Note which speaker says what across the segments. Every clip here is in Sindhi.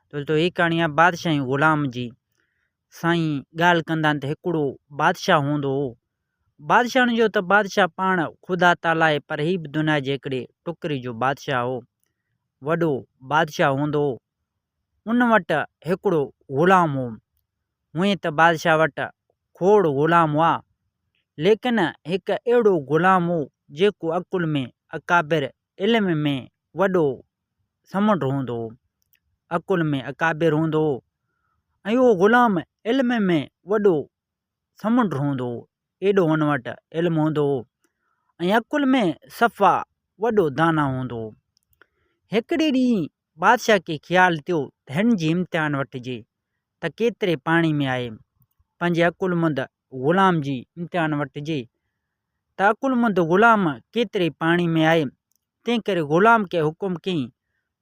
Speaker 1: دوستو هي ڪهاڻي آهي بادشاهي غلام جي سائين ڳالهه ڪندا آهن ته هڪڙو بادشاهه هوندو هو بادشاهن جو ته بادشاهه پاڻ خدا تعالي آهي پر هي به دنيا جي هڪڙي ٽڪري جو بادشاهه هو وڏو بادشاهه هوندو هو ان وٽ هڪڙو غلام هو هونئن ته بادشاهه وٽ کوڙ غلام هئا ليڪن هڪ اهڙو غلام هو جيڪو عقل ۾ اڪابر علم ۾ وڏو سمنڊ هوندو هو عقل ۾ اڪابر هوندو هو ۽ اهو غلام علم ۾ وڏو سمنڊ هوندو هو ايڏو هن وٽ علم هوندو هو ۽ عقل ۾ صفا وڏو دانا هوندو هو هڪڙي ڏينهن بادشاهه کي خيال ٿيو ته هن جي امتحان وٺجي ته ڪيتري پاڻي ۾ آهي پنهنجي عقلمند غلام جي امتحان وٺجي ته عقلمند غلام ڪيتري پاڻي ۾ آهي، تنهنڪري غلام کي حڪم ڪيائين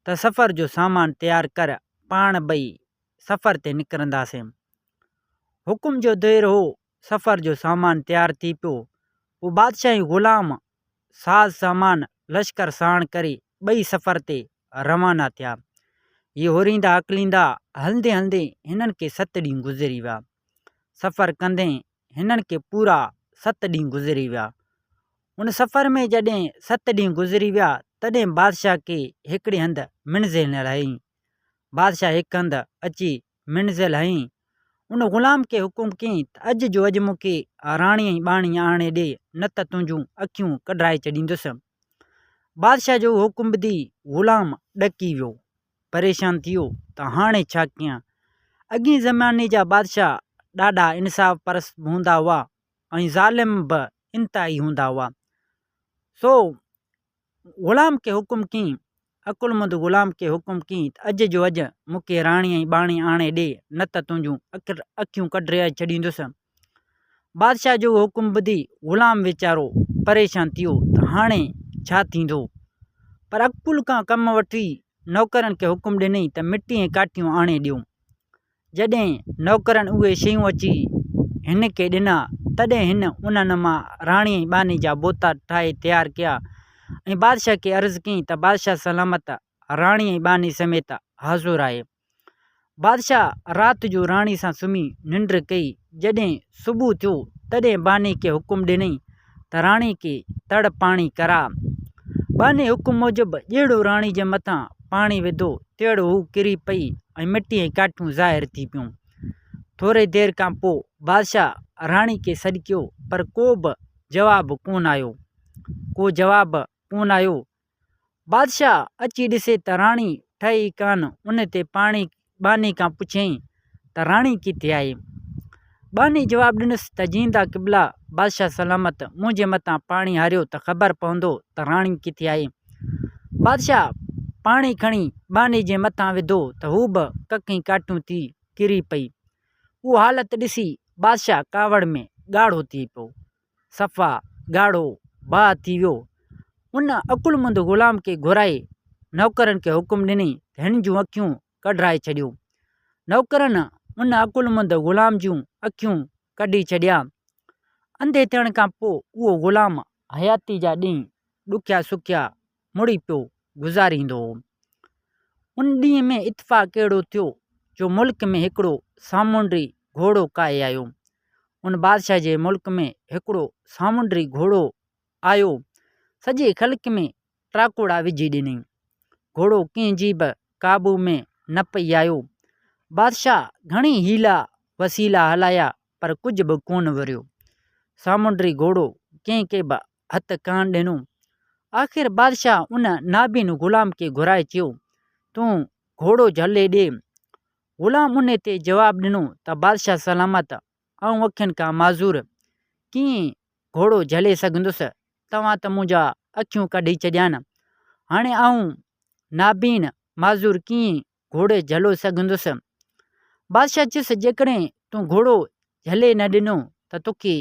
Speaker 1: ته سفر جو سامان تيار ڪر، پاڻ ٻئي سفر تي نڪرنداسين. حڪم جو دير هو، سفر جو سامان تيار ٿي پيو. پوء بادشاهي غلام ساز سامان لشڪر ساڻ ڪري ٻئي سفر تي روانا ٿيا. هي هوريندا اڪليندا هلندي هلندي هنن کي ست ڏينهن گذري ويا. سفر ڪندي هنن کي پورا ست ڏينهن گذري ويا. ان سفر ۾ جڏهن ست ڏينهن گذري ويا تڏهن بادشاهه کي هڪڙي هنڌ منزل نه رهي. بادشاهه هڪ هنڌ اچي منزل هين، ان غلام کي حڪم ڪيئين ته اڄ جو اڄ مون کي راڻي ۽ ٻانهي آڻي ڏي، نه ته تنهنجون اکيون ڪڍرائي ڇڏيندس. بادشاهه جو اهو حڪم ٻڌي غلام ڏڪي ويو، پريشان ٿيو ته هاڻي ڇا ڪيان؟ اڳئين زماني جا بادشاهه ڏاڍا انصاف پرست به هوندا هئا ۽ ظالم به انتهائي هوندا هئا، سو غلام کي حڪم ڪين، عقلمند غلام کي حڪم ڪين ته اڄ جو اڄ مون کي راڻي ۽ ٻاڻي آڻي ڏي نه ته تنهنجون اکيون ڪڍرائي ڇڏيندس. بادشاهه جو اهو حڪم ٻڌي غلام ويچارو پريشان ٿي ويو ته هاڻي ڇا ٿيندو؟ پر عقل کان ڪم وٺي نوڪرن کي حڪم ڏنائين ته مٽي ۽ ڪاٺيون آڻي ڏيو. جڏهن نوڪرن اهي شيون اچي هن کي ڏنا، تڏهن هن انهن مان راڻي ۽ ٻانهي جا بوتا ٺاهي تيار ڪيا ۽ بادشاهه کي عرض ڪيائين ته بادشاهه سلامت راڻي ۽ ٻانهي سميت حاضر آهي. بادشاهه رات جو راڻي سان سمهي ننڊ ڪئي، جڏهن صبح ٿيو، تڏهن ٻانهي کي حڪم ڏنائين تراڻي ڪي تڙ پاڻي ڪرا. ٻانهي حڪم موجب ڄيڙو راڻي جي مٿان پاڻي وڌو، تيڙو هو ڪري پئي ۽ مٽي ۽ ڪاٺيون ظاهر ٿي پيون. ٿوري دير کان پوء بادشاهه راڻي کي سڏڪيو پر ڪو به جواب ڪونه آيو. ڪو جواب ڪونه آيو بادشاهه اچي ڏسي ته راڻي ٺهي ئي ڪانه. ان تي پاڻي ٻانهي کان پڇيائين ته راڻي ڪٿي آهي؟ ٻانهي جواب ڏنس ته جيئندا قبلا بادشاهه سلامت، منهنجي مٿان پاڻي هاريو ته خبر پوندو ته راڻي ڪٿي آهي. بادشاهه پاڻي کڻي ٻانهي جي مٿان وڌو ته هو به ڪکين ڪاٺيون ٿي ڪري پئي. اهو حالت ڏسي بادشاهه ڪاوڙ ۾ ڳاڙهو ٿي پيو. صفا ڳاڙهو باهه ٿي ويو. ان عقلمند غلام کي گهرائي نوڪرن کي حڪم ڏني ته هن جون اکيون ڪڍرائي ڇڏيو. نوڪرن ان عقلمند غلام جون اکيون ڪڍي ڇڏيا. انڌي ٿيڻ کان پوء اهو غلام حياتي جا ڏينهن ڏکيا سکيا مڙي پيو گذاريندو هو. ان ڏينهن ۾ اتفاق اهڙو ٿيو جو ملڪ ۾ هڪڙو سامونڊي گهوڙو ڪاهي آيو. ان بادشاهه جي ملڪ ۾ هڪڙو سامونڊي گهوڙو آيو، سڄي خلق ۾ ٽاڪوڙا وجهي ڏنائين. گهوڙو ڪنهن جي به قابو ۾ نه پئي آيو. بادشاهه گهڻي حيلا وسيلا هلايا پر ڪجهه به ڪونه وريو. سامونڊي گهوڙو ڪنهن کي به هٿ ڪانه ڏنو. آخر بادشاهه ان نابين غلام کي گهرائي چيو، تون گهوڙو جهلي ڏي. غلام ان تي جواب ڏنو ته بادشاهه سلامت، آئون اکين کان معذور، ڪيئن گهوڙو جهلي سگهندس، توهان ته منهنجا اکيون ڪڍي ڇڏيان، هاڻي آئون نابين، معذور، ڪيئن گهوڙي جهلو سگهندس. بادشاهه چيس، جيڪڏهن تون گهوڙو جهلي نه ڏنو ته توکي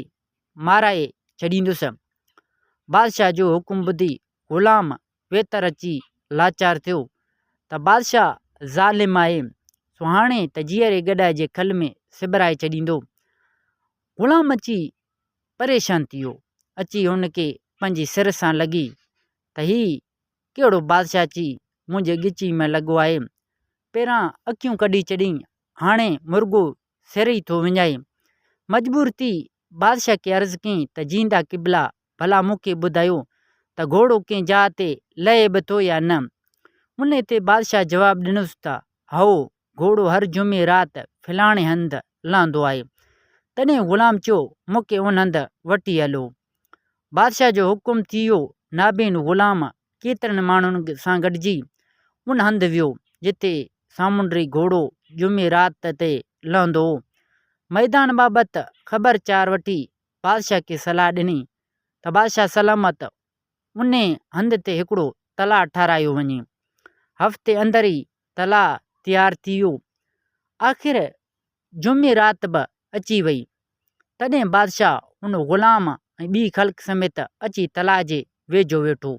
Speaker 1: مارائي ڇڏيندس. بادشاهه جو حڪم ٻڌي غلام ويتر اچي لاچار ٿيو ته بادشاهه ظالم آهي، سو هاڻي ته جيئري گڏهه جي کل ۾ سبرائي ڇڏيندو. غلام اچي پريشان ٿي ويو. اچي هن کي پنهنجي سر سان لڳي ته هي ڪهڙو بادشاهه اچي منهنجي ڳچيء ۾ لڳو آهي. پهران اکيون ڪڍي ڇڏيئي، هاڻي مرڳو سر ئي ٿو وڃائي. مجبور ٿي بادشاهه کي عرض ڪيائين ته جيئندا قبلا، ڀلا مون کي ٻڌايو ته گهوڙو ڪنهن جاء تي لهي به ٿو يا نه؟ انهيء تي بادشاهه جواب ڏنس ته هائو، گهوڙو هر جمعي رات فلاڻي هنڌ لهندو آهي. تڏهن غلام چيو، مون کي ان هنڌ وٺي هلو. بادشاهه جو حڪم ٿي ويو. نابين غلام ڪيترن ماڻهن سان گڏجي ان هنڌ ويو، جتي سامونڊي گهوڙو جمعي رات تي لهندو هو. ميدان بابت خبر چار وٺي بادشاهه کي صلاح ڏني ته بادشاهه سلامت انهي هنڌ تي هڪڙو تلاء ٺاهرايو وڃي. هفتي اندر ئي تلاء تيار ٿي ويو. آخر جمعي رات به اچي وئي. تڏهن بادشاهه ان غلام ۽ ٻي خلق سميت اچي تلاء جي ويجهو ويٺو.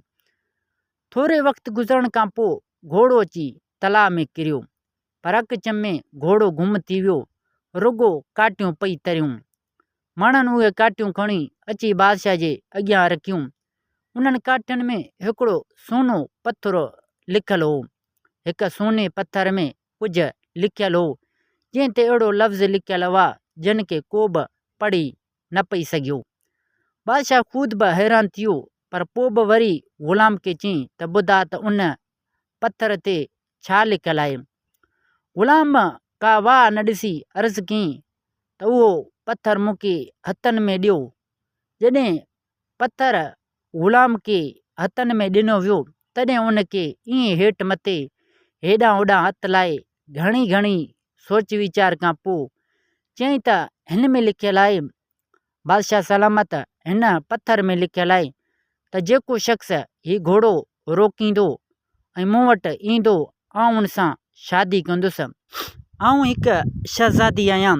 Speaker 1: ٿوري وقت گذرڻ کان پوء گهوڙو اچي تلاء ۾ ڪريو. پر اک چمي گهوڙو گم ٿي ويو. رڳو ڪاٽيون پئي تريون. ماڻهن اهي ڪاٺيون کڻي اچي بادشاهه جي اڳيان رکيون. انهن ڪاٺين ۾ هڪڙو سونو پٿر لکيل هو. هڪ سوني پٿر ۾ ڪجهه لکيل هو، جنهن تي اهڙو لفظ لکيل هئا، جن کي ڪو به پڙهي نه پئي سگهيو. بادشاهه خود به حيران ٿيو، پر پوء به وري غلام کي چيائين ته ٻڌاء ته ان پٿر تي ڇا لڪيل آهي؟ غلام ڪا واهه نه ڏسي عرض ڪيائين ته اهو پٿر مون کي هٿن ۾ ڏيو. جڏهن پٿر غلام کي هٿن ۾ ڏنو ويو تڏهن ان کي ائين هيٺ مٿي هيڏانهن هوڏانهن هٿ لائي گهڻي گهڻي سوچ ويچار کان پوء چيائين ته هن ۾ لکيل آهي بادشاهه سلامت هن پٿر ۾ لکيل آهي ته جيڪو شخص هي گهوڙو روڪيندو ۽ مون وٽ ايندو آئون ان سان شادي ڪندس آئون هڪ شهزادي آهيان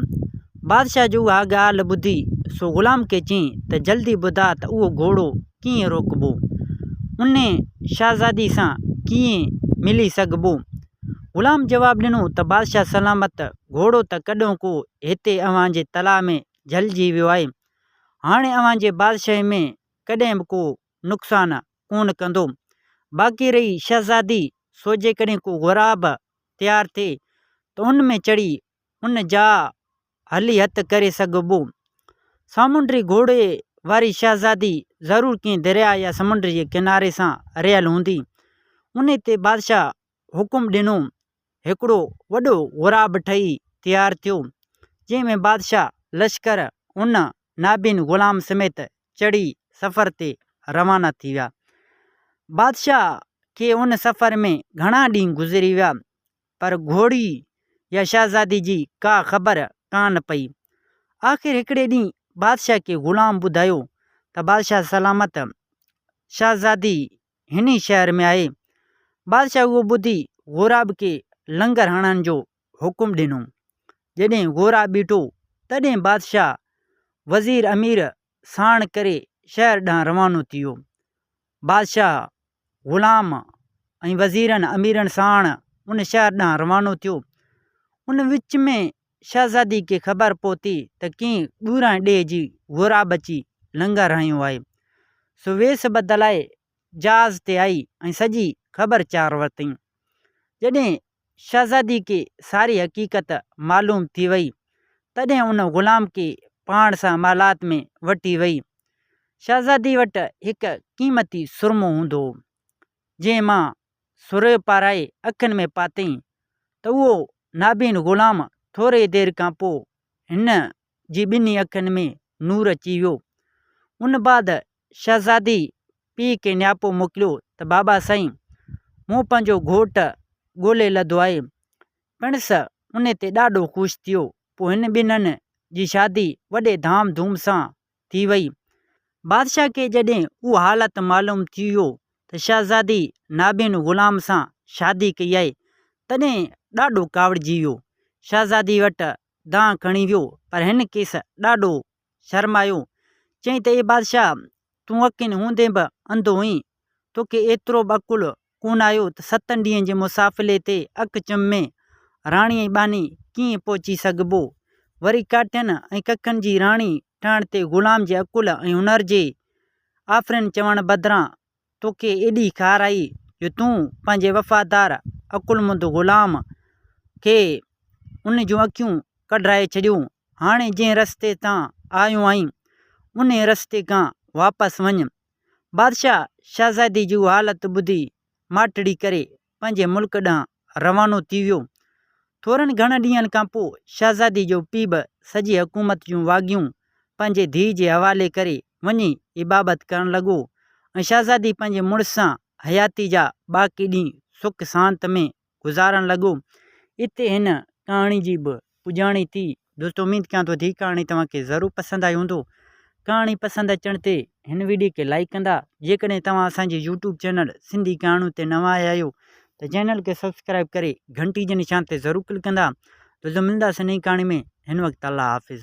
Speaker 1: بادشاهه جي اها ڳالهه ٻڌي سو غلام کي چيائين ته جلدي ٻڌاء ته اهو گهوڙو ڪيئن روڪبو ان شهزادي سان ڪيئن ملي سگهبو غلام جواب ڏنو ته بادشاهه سلامت گهوڙو ته ڪڏهن ڪو هتي اوهان جي تلاء ۾ جهلجي ويو آهي، هاڻي اوهان جي بادشاهي ۾ ڪڏهن به ڪو نقصان ڪونه ڪندو. باقي رهي شهزادي، سو جيڪڏهن ڪو غراب تيار ٿئي ته ان ۾ چڙهي ان جا هلي هٿ ڪري سگهبو. سامونڊي گهوڙي واري شهزادي ضرور ڪنهن درياء يا سمنڊ جي ڪناري سان رهيل هوندي. انهي تي بادشاهه حڪم ڏنو هڪڙو وڏو غوراب ٺهي تيار ٿيو، جنهن ۾ بادشاهه لشڪر ان نابين غلام سميت چڙهي سفر تي روانا ٿي ويا. بادشاهه کي ان سفر ۾ گهڻا ڏينهن گذري ويا، پر گهوڙي يا شهزادي جي ڪا خبر ڪانه پئي. آخر هڪڙي ڏينهن بادشاهه کي غلام ٻڌايو ته بادشاهه سلامت شهزادي هن ئي شهر ۾ آهي. بادشاهه اهو ٻڌي غوراب کي لنگر هڻڻ جو حڪم ڏنو. جڏهن غوراب بيٺو، تڏهن بادشاهه وزير امير ساڻ ڪري شهر ڏانهن روانو ٿيو. بادشاهه غلام ۽ وزيرن اميرن ساڻ ان شهر ڏانهن روانو ٿيو. ان وچ ۾ شهزادي کي خبر پهتي ته ڪنهن ڳوران ڏيهه جي غوراب اچي لنگر هنيو آهي، سو ويس بدلائي جهاز تي آئي ۽ سڄي خبر چار ورتائين. جڏهن شهزادي کي ساري حقيقت معلوم ٿي وئي، تڏهن ان غلام کي پاڻ سان محلات ۾ وٺي وئي. شهزادي وٽ هڪ قيمتي سرمو هوندو هو. جنهن مان سرهيو پارائي اکين ۾ پاتئين ته اهو نابين غلام ٿوريء دير کان پوء هن جي ٻنهي اکين ۾ نور اچي ويو. ان بعد شهزادي پيء کي نياپو موڪليو ته بابا سائين مون پنهنجو گهوٽ ڳولي لڌو آهي. پڻس ان تي ڏاڍو خوش ٿيو. پوء هن ٻنهن جي شادي وڏي ڌام ڌوم سان ٿي وئي. بادشاهه کي جڏهن اهو حالت معلوم ٿي ويو ته شهزادي نابين غلام سان شادي ڪئي آهي، تڏهن ڏاڍو ڪاوڙجي ويو. شهزادي وٽ دانهن کڻي ويو، پر هن کيس ڏاڍو شرمايو. چيائين ته اي بادشاهه! تون اکين هوندي به انڌو هئين، توکي ايترو به عقل ڪونه آيو ته ستن ڏينهن جي مسافلي تي اک چمي راڻي ۽ ٻانهي ڪيئن پهچي سگهبو؟ وري ڪاٺين ۽ ڪکن جي راڻي ٺهڻ تي غلام جي عقل ۽ هنر جي آفرين چوڻ بدران توکي ايڏي خار آئي جو تون پنهنجي وفادار عقلمند غلام کي ان جون اکيون ڪڍرائي ڇڏيو. هاڻي جنهن رستي تان آيو آهين، انهيء رستي کان واپس وڃ. بادشاهه شهزادي جي اها حالت ٻڌي ماٺڙي ڪري پنهنجي ملڪ ڏانهن روانو ٿي ويو. ٿورن گهڻن ڏينهن کان پوء شهزادي جو پيء به سڄي حڪومت جون واڳيون پنهنجي ڌيء جي حوالي ڪري وڃي ئي بابت ڪرڻ لڳو ۽ شهزادي پنهنجي مڙس سان حياتي جا باقي ڏينهن سک سانت ۾ گذارڻ لڳو. اتي هن ڪهاڻي جي به پڄاڻي ٿي. دوستو اميد ڪيان ٿو هي ڪهاڻي توهان کي ضرور پسند آئي هوندو. ڪهاڻي پسند اچڻ تي هن ويڊيو کي لائيڪ ڪندا. جيڪڏهن توهان اسان جي يوٽيوب چينل سنڌي ڪهاڻيون تي نوان آيا آهيو ته چينل کي سبسڪرائيب ڪري گهنٽي جي نشان تي ضرور ڪلڪ ڪندا. دوستو ملنداسين نئين ڪهاڻي ۾ هن وقت الله حافظ.